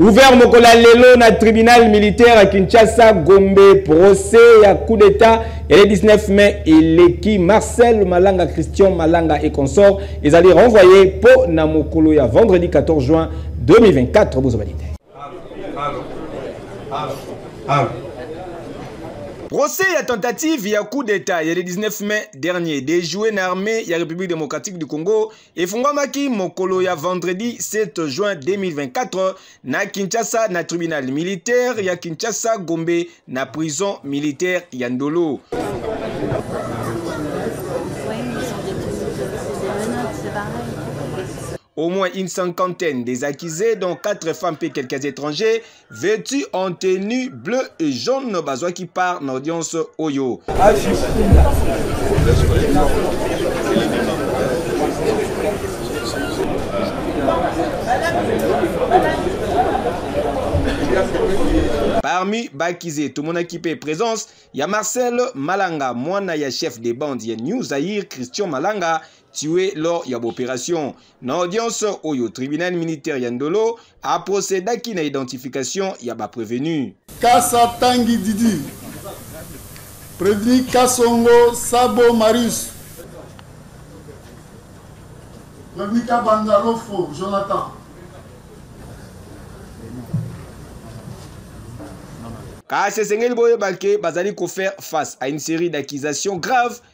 Ouvert mokola lelo na tribunal militaire à Kinshasa Gombe procès ya coup d'état et le 19 mai eleki Marcel Malanga Christian Malanga et consort ezali renvoyé po na mokolo ya vendredi 14 juin 2024 bozwa balite. Procès ya tentative ya coup d'état ya le 19 mai dernier déjoué na armée ya République démocratique du Congo efungwamaki mokolo ya vendredi 7 juin 2024 na Kinshasa na tribunal militaire ya Kinshasa Gombe na prison militaire ya Ndolo. Au moins une cinquantaine des accusés, dont quatre femmes et quelques étrangers, vêtu en tenue bleu et jaune bazwaki part na audience oyo parmi bakize tomonaki mpe présence ya marcel malanga mwana ya chef de bande ya new zaire christian malanga tue lors ya baopération Na audience oyo tribunal militaire ya Ndolo a procédaki na identification ya ba prévenus. Kasa Tangi Didi, Prévenu Kasongo Sabo Marius, Prévenu Kabanda Lofo Jonathan. kasi esengeli boyeba ke bazali kofaire face à une série d'accusations graves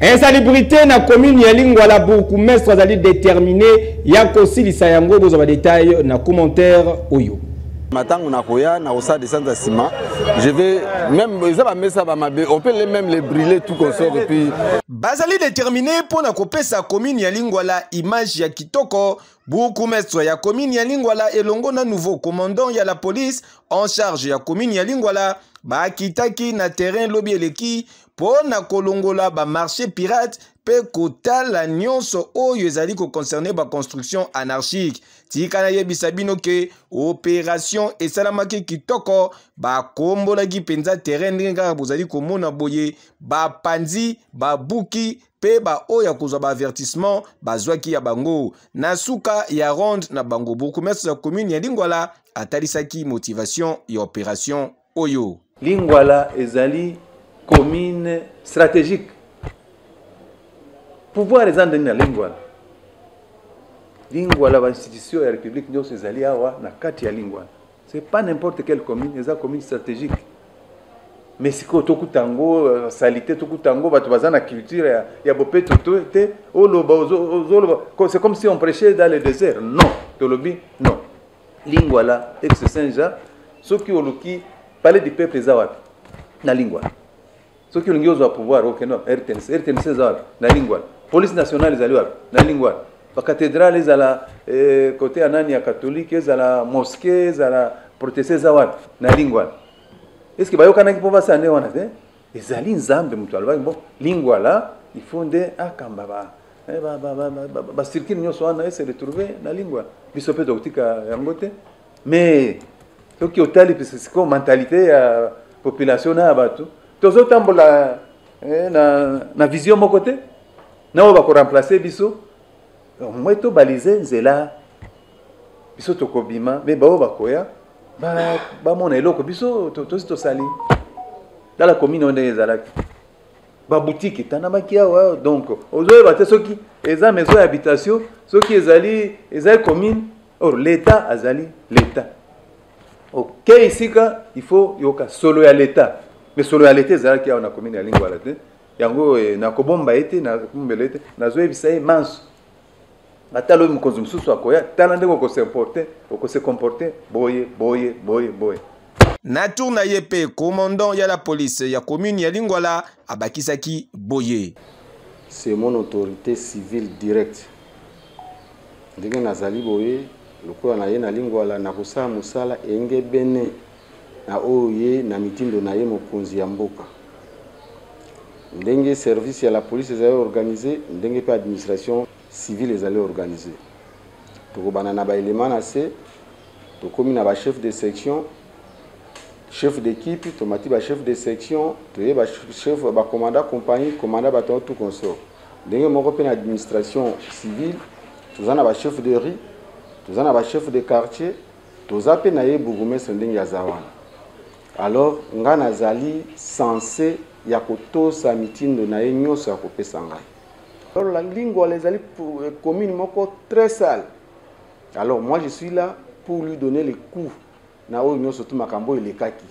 Insalubrite na commune ya Lingwala bourgmestre azali determine ya kosilisa yango bozwa ba detail na commentaire oyo. matango nakoya nakosala descente ya nsima je vais même eza bamesa bamabe on peut même les briller tout consort et puis bazali déterminé mpo na kopesa commune ya lingwala image ya kitoko bourgmestre ya commune ya lingwala elongo na nouveau commandant ya la police en charge ya commune ya lingwala bakitaki na terrain lobi eleki mpo na kolongola bamarche pirate mpe kotala nyonso oyo ezali koconcerne baconstruction anarchique tika nayebisa bino ke operation esalamaki kitoko bakombolaki mpenza terrain ndenge kaka bozali komona boye bapanzi babuki mpe baoyo ya kozwa baavertissement bazwaki ya bango na suka ya ronde na bango bourgmestre ya commune ya lingwala atalisaki motivation ya operation oyo. Lingwala ezali commune stratégique. Pouvoir eza ndenge na Lingwala. Lingwala ba institution ya République nyonso ezali awa na kati ya Lingwala. C'est pas n'importe quelle commune, eza commune stratégique. Mais sikoyo tokuta yango euh, salite, tokuta yango bato baza na culture ya, ya bopeto to te oloba ozoloba c'est comme si on prêchait dans le désert. Non, tolobi non. Lingwala, ex Saint Jean, soki oluki palais du peuple eza wapi? Na Lingwala. Soki olingi ozwa pouvoir okende wapi? RTNC. RTNC eza wapi? Na Lingwala. Police nationale ezali wapi? Na Lingwala. Ba cathedrale ezala eh, kote ya nani ya katolike ezala mosquée ezala proteste eza wapi? Na Lingwala. Est-ce que bayokanaki mpo basane wana te? ezali nzambe moto alobaki bo lingwala il faut nde akamba ba eh, bacircuit nyonso wana ese retrouve na lingwala biso mpe tokotika yango te mais soki otali pese sikoyo mentalité ya population na ya bato tozotambola eh, na, na vision moko te na oyo bakoremplace biso au moins tobalise nzela biso tokobima me baoyo bakoya bamona eloko biso tosi tosali tala komine oyo ndenge ezalaki babutiki etanamaki awa donc ozoyeba te soki eza maison ya habitation soki ezali ezali commune or l'état azali l'état okei okay, esika il faut yoka solo ya l'état mais solo ya l'état ezalaki awa na commune ya lingwala te yango eh, nakobomba ye te nakombela ye te nazoyebisa ye manso ata lobi mokonzi mosusu akoya tala ndenge okosemporte okosekomporte boye boye boye boye na tour na ye mpe commandant ya la police ya commune ya lingwala abakisaki boye c'est mon autorité civile directe ndenge nazali boye lokola na ye na lingwala nakosala mosala engebene na oyo ye na mitindo na ye mokonzi ya mboka ndenge service ya la police ezali organise ndenge mpe administration civile ezali organise tokobana na baelema na se tokomi na bachef de section chef d'équipe tomati bachef de section toye bachef bacommanda compagnie commanda bato tout consort ndenge moko mpe na administration civile toza na bachef de riz toza na bachef de quartier Toza pe na ye bourgoumestre ndenge aza wana alors nga na zali sense ya ko tosa mitindo na ye nioso ya ko pesa ngai. Alors la lingwala ezali commune moko très sale alors moi je suis là pour lui donner les coups na oyo nioso tout makambo elekaki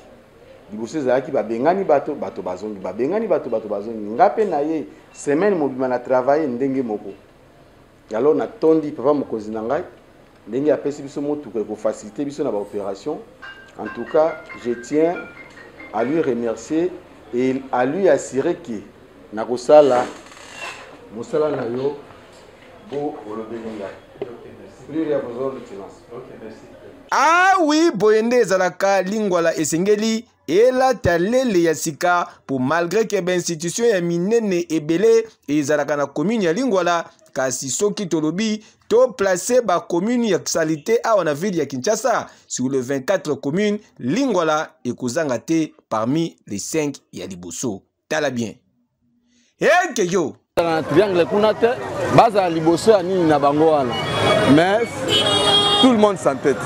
liboso ezalaki babengani bato bato bazongi babengani bato bato bazongi nga pe na ye semaine mobima na travailler ndenge moko. Alors natondi papa mokonzi na ngai ndenge apesi biso motuka ekofacilite biso na baopération en tout cas je tiens à lui remercier et à lui assurer que nakosala mosala na yo bo olobeli ngai plus rien besoin de silence ah oui boye nde ezalaka lingwala esengeli elata lele ya sika mpo malgre ke bainstitution ya minene ebele ezalaka na commune ya lingwala kasi soki tolobi toplace bacommune ya salite awa na ville ya kinshasa sur le 24 commune lingwala ekozanga te parmi les 5 ya liboso tala bien eke yo na triangle kuna te bazala liboso ya nini na bango wana mais tout le monde s'entête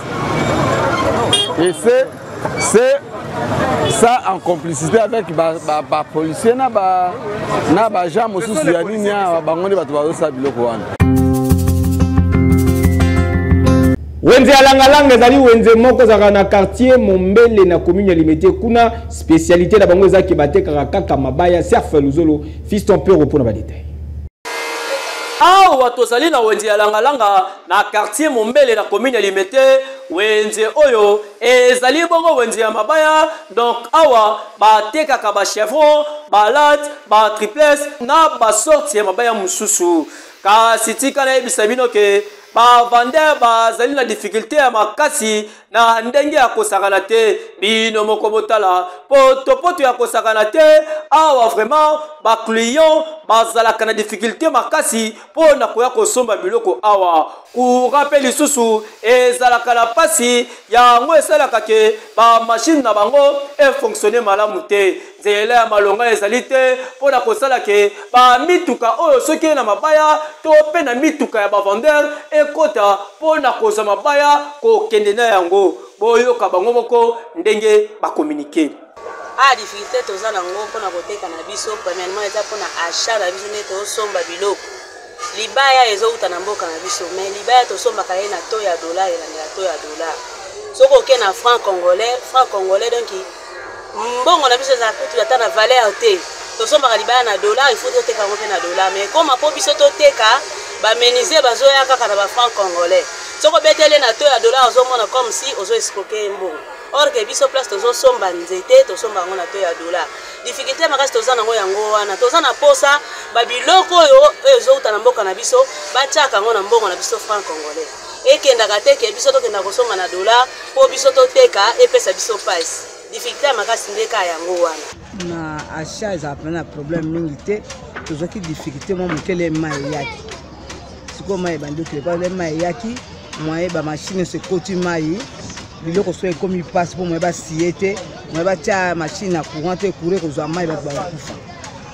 et c'est c'est ça en complicité avec bapolicier ba, ba na baja mosusu ya nini awa bango nde bato bazosala biloko wana wenze ya langalanga ezali wenze moko ezalaka na quartier mombele na commune ya limete kuna Spécialité na bango eza ke batekaka kaka mabaya surf luzolo fiston pero mpo na badetail awa tozali na wenze ya langalanga na quartier mombele na commune ya limete wenze oyo ezali bongo wenze ya mabaya donc awa batekaka bachevron balate batriples na basorte ya mabaya mosusu kasi tika nayebisa bino ke bavandeur bazali na difficulté ya makasi na ndenge ya kosakana te bino moko botala potopoto ya kosakana te awa vraiment baclient bazalaka na difficulté makasi mpo na koya kosomba biloko awa courant mpe lisusu ezalaka na mpasi yango esalaka ke bamashine na bango efonctionne malamu te Nzela ya malonga ezali te mpo na kosala ke ba mituka oyo soki ye na mabaya to mpe na mituka ya bavendeur ekota mpo na kozwa mabaya kokende na yango boyoka bango moko ndenge bakominike a ah, difficulté toza na yango mpo na koteka na biso premièrement eza mpo na achat na biso nde tozosomba biloko libaya ezowuta na mboka na biso mais libaya tosombaka ye na to ya dollar elandela to ya dollar soki oke na franc congolais franc congolais donki mbongo na biso ezala kutu ata na valeur te tosombaka libaya na dollar ifaut toteka yango mpe na dollar mais ekoma mpo biso toteka bamenise bazoya kaka na bafranc congolais soki obeteli na to ya dollar ozomona comme si ozo escroke ye mbongo or ke biso place tozosomba nzete tosomba yango na to ya dollar difficulté makasi toza nango yango wana toza na mposa babiloko oyo oyo ezowuta na mboka na biso batiaka yango na mbongo na biso franc congolais ekendaka te ke biso tokenda kosomba na dollar mpo biso toteka epesa biso pasi dificulte ya makasi nde kaka yango wana na achat ezala mpena na problème mingi te tozwaki dificulte mwa mokele ema eyaki sikoyo mai ebandi okele mpo ema eyaki mwaye bamashine nyonso ekoti mai biloko soki ekomi mpasi mpo mwaye basiye te mwaye batya mashine na courant te courant ekozwa mai bato bakokufa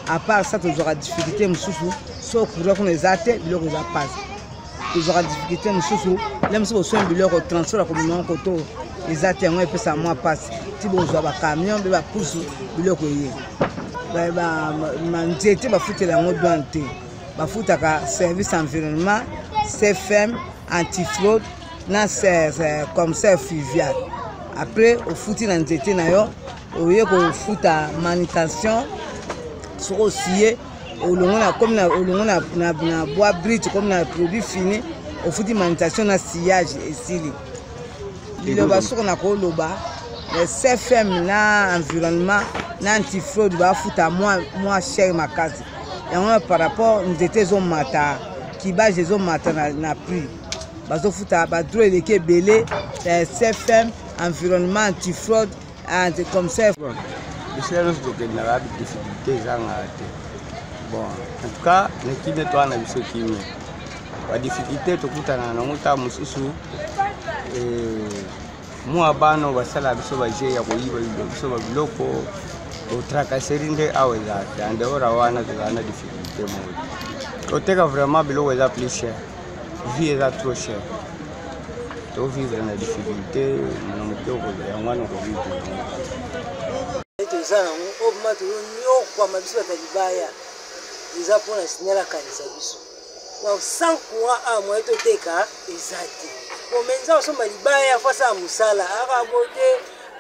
apart sa tozwaka dificulte mosusu so courant kuna eza te biloko eza mpasi tozwaka difficulté mosusu na biso boswani biloko transport ya komema yango koto eza te yango epesa mwa mpasi ti bozwa bacamion mpe bapusu biloko eye banzete bafutela yango douane te bafutaka service environnement cfm antifraude na commissaire fluvial après ofuti na nzete na yo oye kofuta manutention soki osiye olongo na comme na olongo na na, na bois brut comme na produit fini ofuti manutention na sillage esili liloba soko na koloba eh, cfm na environnement na antifraude bafuta mwa mwa cher makasi yango na par rapport nzete ezomata kibage ezomata na, na prix bazofuta badro eleki ebele eh, cfm environnement antifraude Ah, c'est comme ça. Bon, bisika nyonso tokendaka difficulté ezangaka te bon en tout cas na kimia toa na biso kimia badifficulté tokutana nango ntango mosusu eh, mwa bana basala biso baje ya koyiba biso babiloko otrakaseri nde awa eza te andeora wana tozala na difficulté moko koteka vraiment biloko eza plus cher vie eza trop cher tovivre na difficulté na motoko yango wana okovivre toza nango oyo ma toyonyokwama biso bata libaya eza mpona signal akanisa biso donc sans courant a moye toteka eza te omenza osomba libaya fo asala mosala akabo te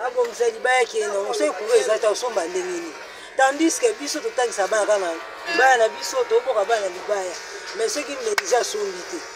abongisa libaya kende nango soki courant eza te osomba ndenge nini tandis ke biso totangisa bana kaka na libaya na biso toboka bana na libaya mais soki meliza asombi te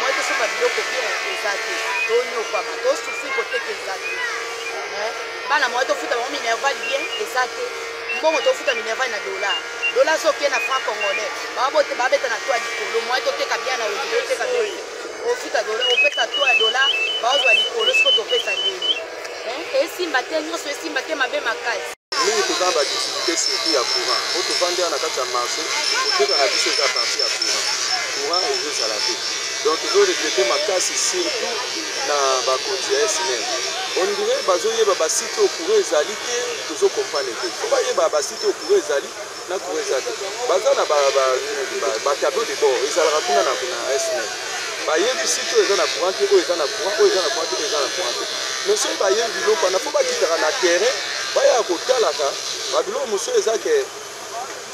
Moi te soka biloko bien eza te tonyokwama tosufri koteka eza te eh, bana moi tofuta bango minerval bien eza te mbongo tofuta minerval na dollar dollar so oke na franc congolais babote babeta na to ya likolo moi toteka bien na olio oteka doi ofuta dollar opesa to ya dollar baozwa likolo siko topesa ndenge eh, esimba te nyonso esimba te mabe makasi mingi toza na ba difficulté surtout ya courant po tovandi awa na kati ya marché koteka na biso eza parti ya courant courant ezozala te donc ezo regrete makasi surtout na bakonzi ya snel ondire bazoyeba basite oyo courant ezali te tozo comprendre te po bayeba basite oyo courant ezali Na trouve ça te. Baza na ba ba ba tableau de bord ezalaka kuna na na SNEL. Ba yebi site oyo eza na courant te, oyo eza na courant, oyo eza na courant te, oyo eza na courant te. Mais soki ba yebi biloko wana faut ba kitaka na terrain ba ya ko talaka ba biloko mosusu eza ke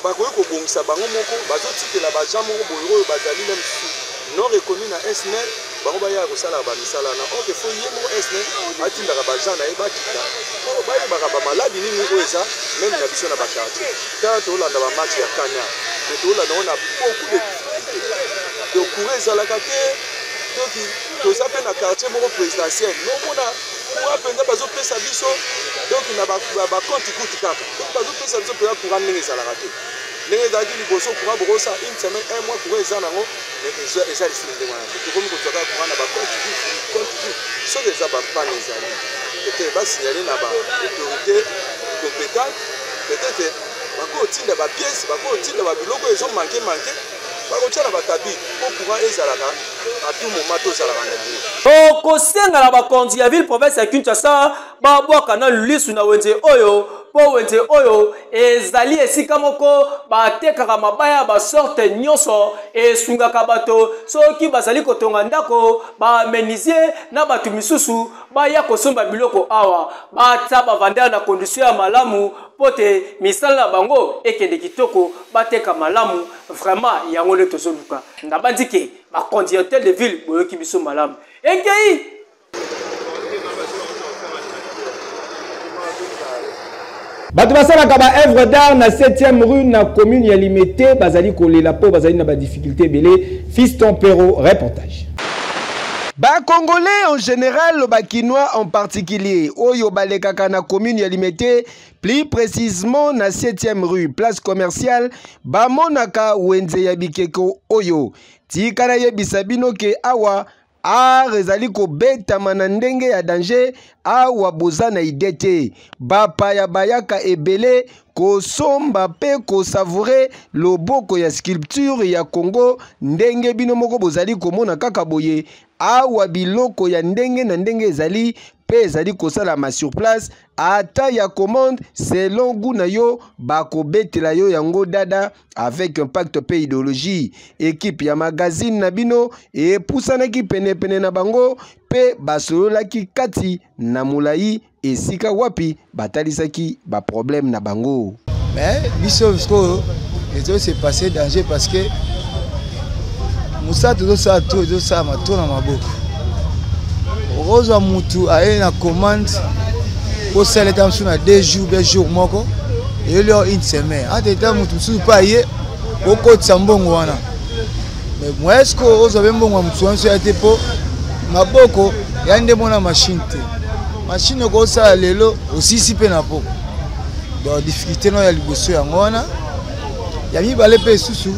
bakoki ko bongisa bango moko bazo tikela ba gens moko boye oyo bazali meme non reconnu na SNEL bango bayaka kosalaka bamisala wana ok fo ye moko esne atindaka bagen na ye bakita po bayebaka bamaladi nini oyo eza meme na biso na bakartier ntango tolanda bamatch ya kanya me tolanda yango na beaucoup de difficulté de coura ezalaka te toki toza mpe na quartier moko présidentiel nomona coura mpenza bazopesa biso donc na bakonti kutu kaka donc bazopesa biso mpenza coura ndenge ezalaka te ndenge ezalaki liboso courant bokosa une semaine un mois courant eza nango eza lisili ndenge wana te tokomi kozwa kaka courant na bacompte vif compte vif soki eza bapane ezali peut-être basignale na baautorité compétente peut-être bakotinda bapièce bakotinda babiloko ezo manke manke bakotya na bakabi mpo courant ezalaka à tout moment tozalaka na yango tokosenga na bakonzi ya ville province ya kinshasa babwaka nanu lisu na wenze oyo mpo wenze oyo ezali esika moko batekaka mabaya ya basorte nyonso esungaka bato soki bazali kotonga ndako bamenisie na bato misusu baya kosomba biloko awa bata bavanda na kondisio ya malamu mpo te misala na bango ekende kitoko bateka malamu vraimen yango nde tozoluka nabanzi ke bakonzi ya hotel de ville boyoki biso malamu ekei bato basalaka baœuvre d'art na 7e rue na commune ya limete bazali kolela mpo bazali na badifficulté ebele fiston pero reportage bakongolais en général bakinois en particulier oyo balekaka na commune ya limete plus précisement na 7e rue place commerciale bamonaka wenze ya bikeko oyo tika nayebisa bino ke awa art ezali kobetama na ndenge ya danger awa boza na ide te bapaya bayaka ebele kosomba mpe kosavoure loboko ya sculpture ya congo ndenge bino moko bozali komona kaka boye awa biloko ya ndenge na ndenge ezali mpe ezali kosalama sur place ata ya commande selon gout na yo bakobetela yo yango dada avec impact mpe ideologie ekipe ya magazine na bino epusanaki penepene na bango mpe basololaki kati na molai esika wapi batalisaki ba problème na bango mais biso sikoyo ezo se passer danger parce que mosala tozosala to ezosalama to na maboko okozwa mutu aye na commande kosala eta mosusu na deux jours be jour moko eyeli yo une semaine entre temps mutu mosusu mpe aye okotisa mbongo wana mais moyen sikoyo ozwa be mbongo ya motu wana so ya te mpo maboko ya nde mona mashine te machine okosala lelo osisi mpe na po donc difficulté no ya liboso yango wana ya mibale mpe esusu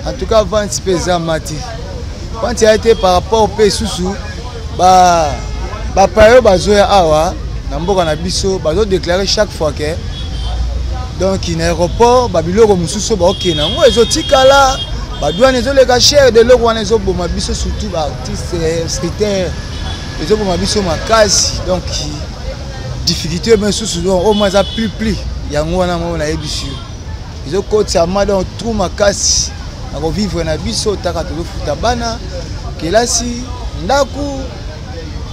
en tout cas vente mpe eza mati vente ya te par rapport mpe esusu bapaya oyo bazoya awa na mboka na biso bazodeklare chaque fois ke donc na aéroport babiloko mosusu baokende yango ezotikala badwane ezoleka chere de eloko wana ezoboma biso surtout baartiste eh, scritere ezoboma biso makasi donc difficulté me susu donc oyo ma eza plus plus yango wana moko nayebisi yo ezokotisama donc trou makasi na kovivre na biso taka tozofuta bana kelasi ndako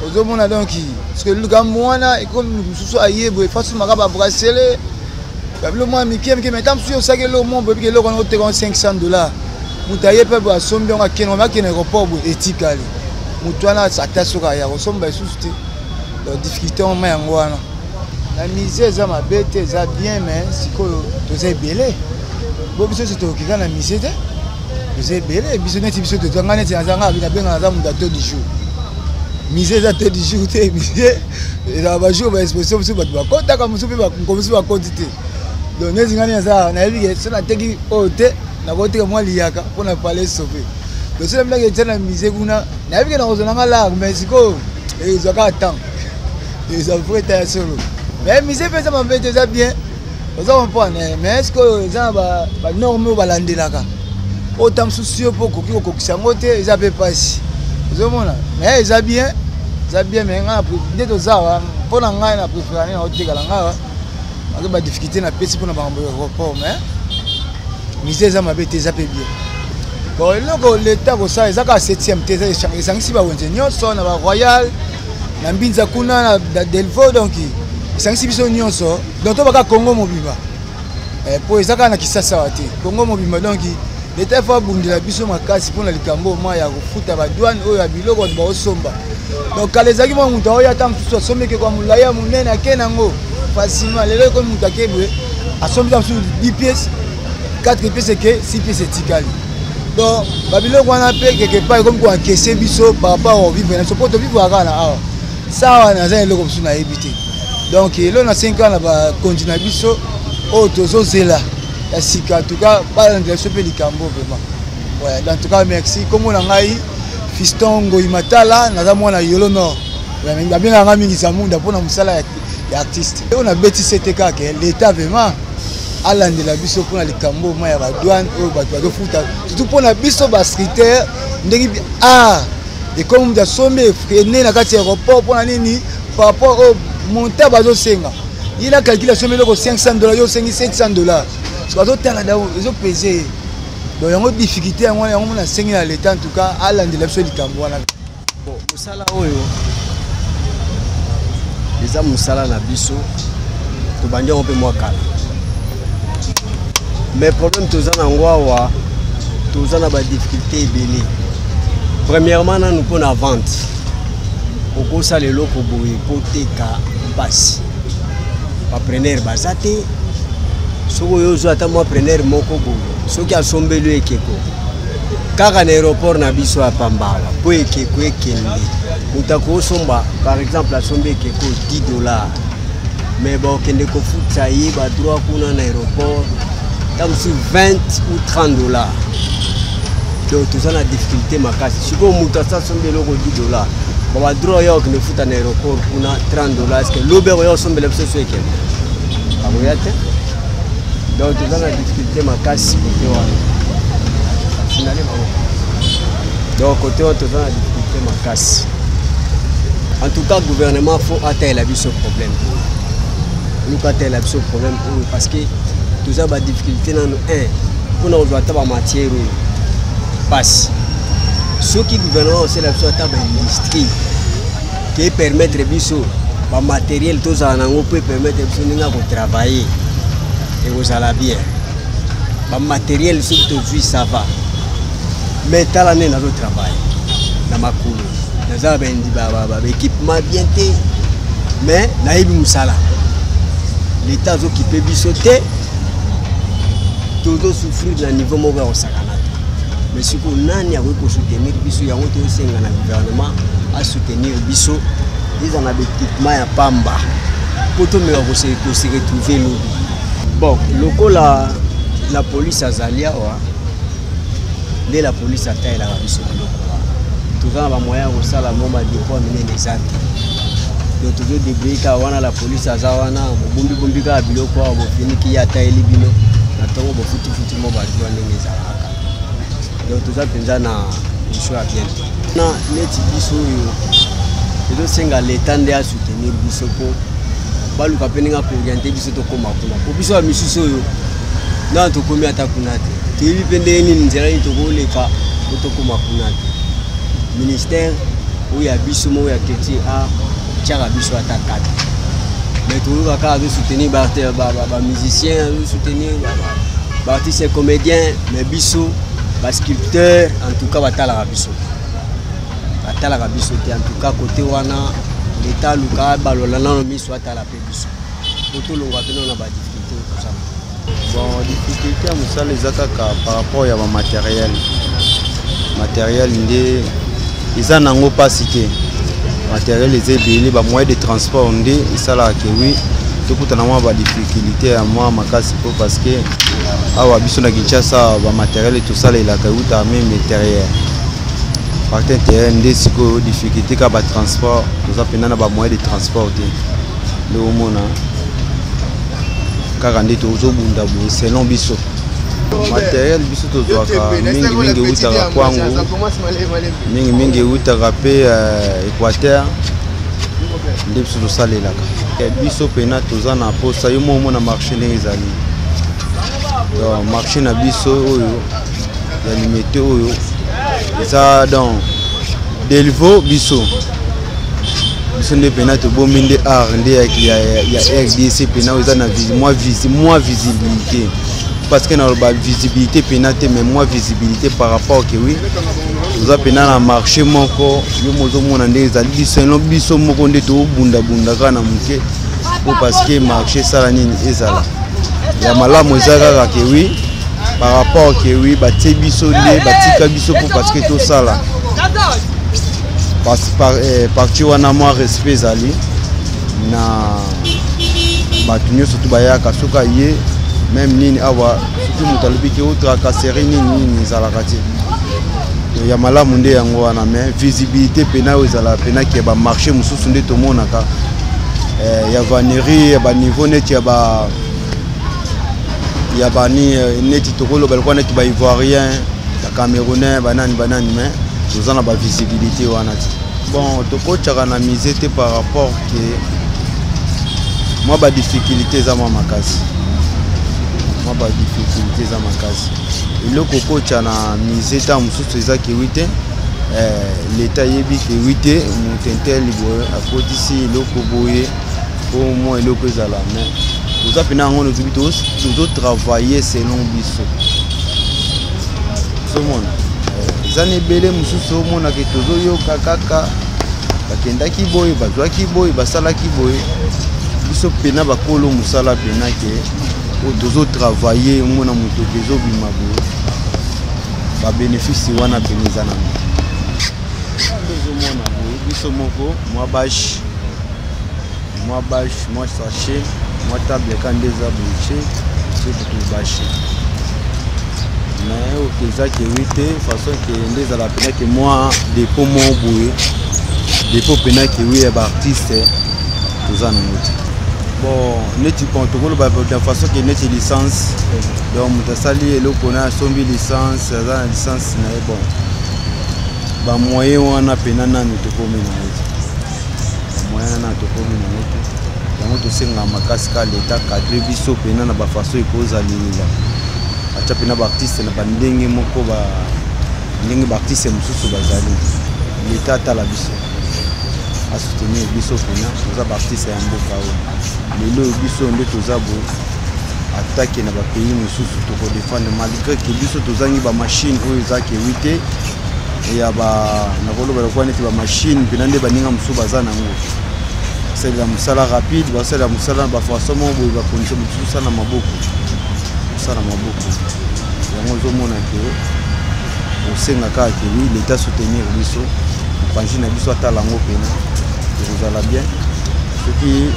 ozomona donc parceke likambo wana ekomi mosusu aye boye fasi maka babrasele babilo mwa mike mike meta mosusu osaki eloko mwa boyebi eloko wana oteka 500 dollar moto aye mpe boye asombi yango akende akende aéroport boye etikali motu wana ata soki aya kosomba lisusu te donc difficulté yango ma yango wana na musée eza mabe te eza bien mais sikoyo toza ebele bo biso nyonso tokoki kaka na musée te toza ebele biso neti biso toza ngai neti naza ngai nabengaka naza moto ya to du jour musée eza te du jour te musée ezala bajour ba exposition mosusu bato bakotaka mosusu mpe mosusu bakoti te donc neti ngai naza nayebi ke so nateki oyo te nakoteka mwa liyaka mpo na pale sope donc so namilaki etya na musée kuna nayebi ke nakozwa nanga lar mais sikoyo ezwa kaka temps eza vrai ta ya solo mais musée mpe eza mabe te eza bien oza comprendre mais sikoyo eza na banorme oyo balandelaka oyo ta mosusu yo mpo okoki kokokisa yango te eza mpe mpasi ozomona mais eza bien eza bien mais ngai nde toza wa mpo na ngai na préférane na otekala ngai wa aza ba difficulté na pesi mpona makambo ya report mais mise eza mabe te eza mpe bien bon eloko leta kosala eza kaka septième te esangisi bawenze nyonso na baroyal na mbinza kuna na delvo donc esangisi biso nyonso donc tobaka congo mobimba mpo eh, eza kaka na kisasawa te congo mobimba donc leta efo abundela biso makasi mpona likambo ma ya kofuta badwane oyo ya biloko bato baosomba donc kala ezalaki mwa moto aoya ata mosusu asombi ekekwa molai ya monene ake nango facilement lelo ekomi moto ake boye asombi ta mosusu 10 pièce 4 pièce eke 6 pièce etikali donc babiloko wana mpe quelque part ekomi koankese biso par rapport au vivre na biso mpo tovivre kaka na awa sa awa naza na eloko mosusu nayebi te donc elo na 5 ans na bakonzi na biso oyo tozozela ya sika en tout cas balandela biso mpe likambo vraiment Ouais, en tout cas merci. Kombo na ngai Fiston Ngoyi Matala, naza mwana Yolo Nord. Babengaka ngai mingi Zamunda mpo na mosala ya, ya artiste. Oyo nabeti sete kaka eh, l'etat vraiment alandela biso mpo na likambo ma ya badwane oyo bato bazofuta surtout mpo na biso bascritere ndenge art ekomi moto asombi ene na kati ya aéroport mpo na nini par rapport oyo monta bazosenga ye na calcule asombi eloko 500 dollar yo osengi 700 dollar bazotala ezopese ye bon yango difficulté yango wana yango mona asengeli ya leta en tout cas alandela biso likambo wana bon mosala oyo eza mosala na biso tobandi yango mpe mwa kala mais problème toza na yango awa toza na badifficulté ebele premièrement nanu mpo na vente okosala eloko boye mpo teka mpasi ba preneur baza te soki oyo ozwa ata mwa preneur moko boye soki asombeli ekeko kaka na aéroport na biso ya pambala mpo ekeko ekende moto akosomba par exemple asombi ekeko 10 dollar mais bakokende kofuta ye badroit kuna na aéroport ta mosusu 20 ou 30 dollar donc toza na difficulté makasi sikoyo moto asa sombi eloko 10 dollar baba droit ya okende futa na aéroport kuna 30 dollar eske lobe oya osombela biso so ekende akoya te donc toza na difficulté makasi kote wana sinali bango donc kote wana toza na difficulté makasi en tout cas gouvernement fo atalela biso problème luka atalela biso problème oyo parce que toza ba difficulté nano un mpo na kozwa ata ba matière oyo mpasi soki gouvernement osala biso ata ba industrie ke permettre biso ba matériel tozala nango mpo epermettre biso ndenge ya kotravailler ekozala bien ba matériel soki tozwi ça va mais tala nde nazotravaille na makolo naza na bendi baekipement bien te mais nayebi mosala leta azokipe biso te tozosouffrir na niveau moko ya kosakana te mais sikoyo nani akoki kosoutenir biso yango toyosenga na gouvernement asoutenir biso eza na baekipement ya pamba mpo tomeka koseretrouve lobi bon lokola la polise azali awa nde la polisi atalelaka biso biloko wana toza na bamoyen ya kosala mo madepoi minene eza te do tozo debrie kaka wana la polisi aza wana bobombibombi kaka biloko awa bofiniki ye ataleli bino na ntongo bofutifuti mo badua ndenge ezalaka do toza mpenza na mission ya bien na neti biso oyo tozosenga leta nde asoutenir biso mpo baluka mpe ndenge akoriente biso tokóma kuna mpo biso ya misusu oyo nano tokomi ata kuna te toyebi mpe ndenge nini nzela nini tokoleka po tokóma kuna te ministère oyo ya biso moko ya culture a tiaka biso ata kata mais toyoka kaka azosoutenir bamusicien azosoutenir baartiste comédien mais biso basculpteur en tout cas batalaka biso batalaka biso te en tout cas kote wana leta aluka balola nano miso atala mpe biso po tolonga bino na badifficulté tozala bon difficulté ya mosala eza kaka par rapport ya bamateriel materiel nde eza nango mpasi te materiel eza ebele bamoyen de transport nde esalaka ke wi tokutana mwa badifficulté ya mwa makasi mpo parce que awa biso na kinshasa bamateriel tosalelaka euta meme interieur parti interieur nde sikoyo difficulté kaka batransport toza mpenza na bamoyen de transport te nde omona kaka nde tozobunda boye selon biso materiel biso tozwaka mingimingi eutaka kwango mingimingi eutaka mpe euh, équateur nde biso tosalelaka eh, biso mpena toza na mposa yo moko omona marché ndenge ezali donc marché na biso oyo ya limete oyo eza donc delvo biso biso nde mpena tobombi nde art nde ya rdc mpena oyo eza na mwa visibilité parce que naloba visibilité mpena te mais mwa visibilité par rapport ke oui toza mpena na marché moko yo mozomona nde ezali biso biso moko nde tobundabunda kaka na moke po parce que marché esala nini ezala ya malamu eza kaka ke oui par rapport ke oui batie biso nde batika biso po parce que tosala Eh, parti wana mwa respect ezali na bato nyonso to bayaka soki aye meme nini awa soki moto alobi ke otrakaseri nini nini ezalaka te ya malamu nde yango wana mais visibilité mpena oyo ezalaka mpena ke bamarché mosusu nde tomonaka eh, ya vanerie ya baniveau neti ya ba ya bani eh, neti tokoloba lokola neti baivoirien Camerounais banani banani mais toza na ba visibilité wana ti. Bon tokotchaka na musée te par rapport que moi ba difficulté eza mwa makasi. Mwa ba difficulté eza makasi. Eloko kocha na musée ta mosusu eza kiwi te. Eh, leta ayebi ke wite motentel boye akotisi eloko boye po mwa eloko ezala mais toza mpena yango nozubi tozotravaille selon biso ozomona eh, eza na ebele mosusu omonaka tozoyoka kaka bakendaki boye bazwaki boye basalaki boye biso mpena bakolo mosala mpena ke oyo tozotravaille omona moto ezobima boye babenefisi wana mpena eza na biso moko mwa bashe mwa bashe mwa sashe mwa table ka nde eza bouche soki tobashe mais oke eza ke wi te façon ke nde ezala mpena ke mwa depo moko boye depo mpena ke wi ya baartiste toza nango te bon neti bon tokoloba na façon ke neti licence donc moto asali eloko na asombi licence aza na licence na ye bon bamoyen wana mpena nanu tokomi na ye moyen wana tokomi nango te yango tosengaka makasi ka leta cadre biso mpena na bafaso ekozalila atya mpena baartiste na bandenge moko ndenge baartiste mosusu bazali leta atala biso asoutenir biso mpena toza baartiste ya mboka oyo lelo oyo biso nde toza bo atake na bapays mosusu tokodefendre malgré ke biso tozangi bamashine oyo eza kewi te ya ba nakoloba lokola neti bamashine mpena nde baninga mosusu baza na yango basalela mosala rapide basalela mosala na bafaçon moko boye bakonisa mosusu mosala na maboko mosala na maboko yango ozomona ke osenga kaka ke wi leta soutenir biso mopanzi na biso atala yango mpena ekozala bien soki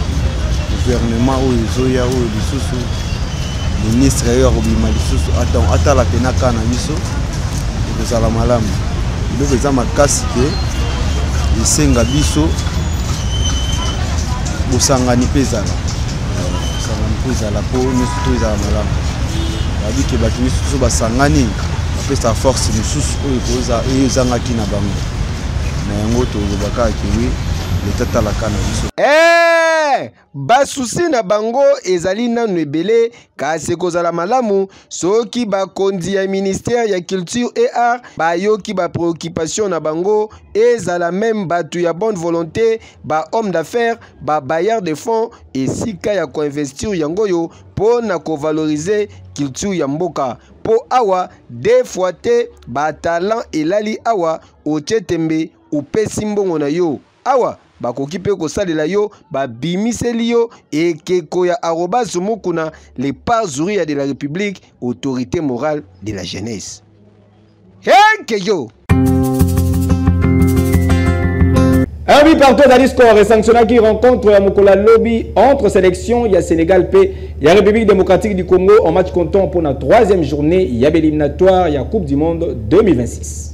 gouvernement oyo ezoya oyo lisusu ministre oyo akobima lisusu atala mpena kaa na biso ekozala malamu biloko eza makasi te esenga biso bosangani mpe ezala bosangani mpe ezala mpo nyonso to ezala malamu babi ke bato nyonso biso basangani bapesa force mosusu oyo oyo ezangaki na bango na yango tolobaka kewi leta talaka na biso eh! Basusi na bango ezali nanu ebele kasi ekozala malamu soki bakonzi ya ministère ya culture et art bayoki ba préoccupation na bango ezala meme bato ya bonne volonté ba homme d'affaires ba bailleur de fonds esika ya koinvestir yango oyo mpo na kovalorize culture ya mboka mpo awa de fois te batalant elali awa otie tembe opesi mbongo na yo Awa bakoki mpe kosalela yo babimiseli yo ekeko ya arobase mokuna le parzuria de la république autorité morale de la jeunesse heke yo Un but partout à Discord et sanctionnaki rencontre ya mokolo ya lobi entre sélection ya Sénégal mpe ya République démocratique du Congo en match comptant mpo na troisième journée ya béliminatoire ya Coupe du Monde 2026.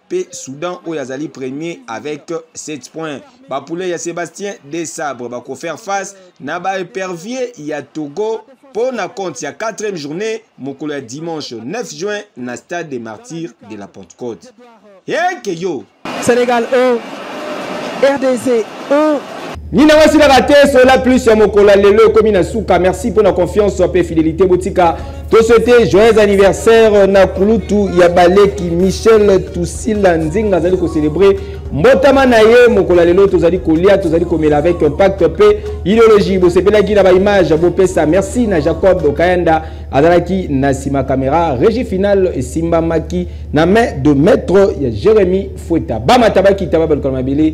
mpe Soudan oyo azali premier avec 7 points. Bapoulet ya Sébastien Desabre bakofaire face na baepervier ya Togo mpo na compte ya 4e journée mokolo ya dimanche 9 juin na stade des martyrs de la Pentecôte. Eke yo! Sénégal 1, RDC 1. nina wasilaka te sola plus ya mokolo ya lelo ekomi na suka merci mpo na confiance mpe fidélité botika toswete joyeux anniversaire na kulutu ya baleki michel tusila nzinga azali kocelebre mbotama na ye mokolo ya lelo tozali kolia tozali komela avec impact mpe ideologie bosepelaki na baimage bopesa merci na jacob kayanda azalaki na nsima kamera régie finale esimbamaki na main de maître ya jérémi fueta bamatabakita babalukana mabele